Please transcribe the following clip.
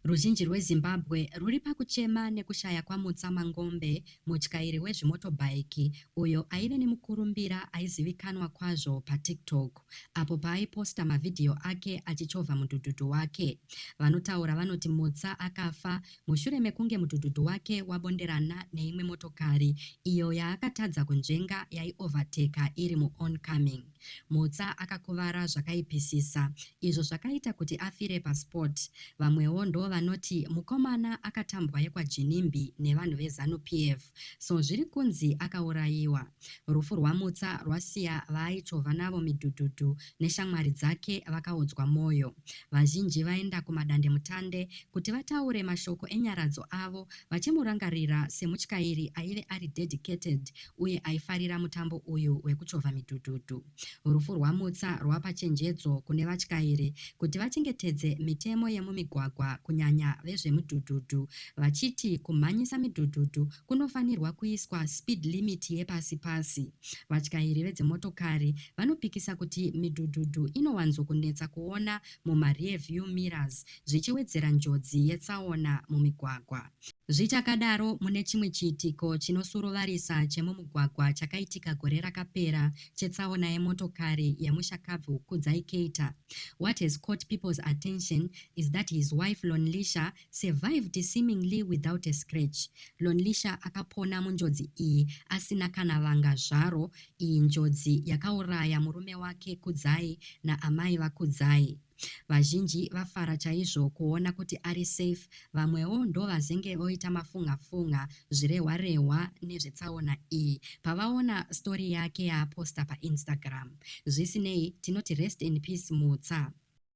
Ruzhinji rweZimbabwe rwuri pakuchema nekushaya kwaMutsa Mangombe, mutyairi wezvimotobhaiki uyo aive nemukurumbira aizivikanwa kwazvo paTiktok apo paaiposta mavhidhiyo ake achichovha mudhudhudhu wake. Vanotaura vanoti Mutsa akafa mushure mekunge mudhudhudhu wake wabonderana neimwe motokari iyo yaakatadza kunzvenga yaiovhateka iri muOncoming. Mutsa akakuvara zvakaipisisa izvo zvakaita kuti afire paspot. Vamwewo ndovanoti mukomana akatambwa yekwaJinimbi nevanhu veZanu PF so zviri kunzi akaurayiwa. Rufu rwaMutsa rwasiya vaaichovha navo midhudhudhu neshamwari dzake vakaodzwa moyo. Vazhinji vaenda kumadandemutande kuti vataure mashoko enyaradzo avo vachimurangarira semutyairi aive ari dedicated uye aifarira mutambo uyu wekuchovha midhudhudhu. Rufu rwaMutsa rwapa chenjedzo kune vatyairi kuti vachengetedze mitemo yemumigwagwa kunyanya vezvemudhudhudhu vachiti kumhanyisa midhudhudhu kunofanirwa kuiswa speed limit yepasi pasi. Vatyairi vedzimotokari vanopikisa kuti midhudhudhu inowanzokunetsa kuona mumarear view mirrors zvichiwedzera njodzi yetsaona mumigwagwa. Zvichakadaro, mune chimwe chiitiko chinosuruvarisa chemumugwagwa chakaitika gore rakapera chetsaona yemotokari yemushakabvu Kudzai Keita, what has caught people's attention is that his wife Lonlisha survived seemingly without a scratch. Lonlisha akapona munjodzi iyi asina kana vanga zvaro. Iyi njodzi yakauraya murume wake Kudzai naamai vaKudzai. Vazhinji vafara chaizvo kuona kuti ari safe, vamwewo ndovazenge voita mafunga funga zvirehwa rehwa nezvetsaona iyi pavaona story yake yaaposta paInstagram. Zvisinei, tinoti rest in peace Mutsa.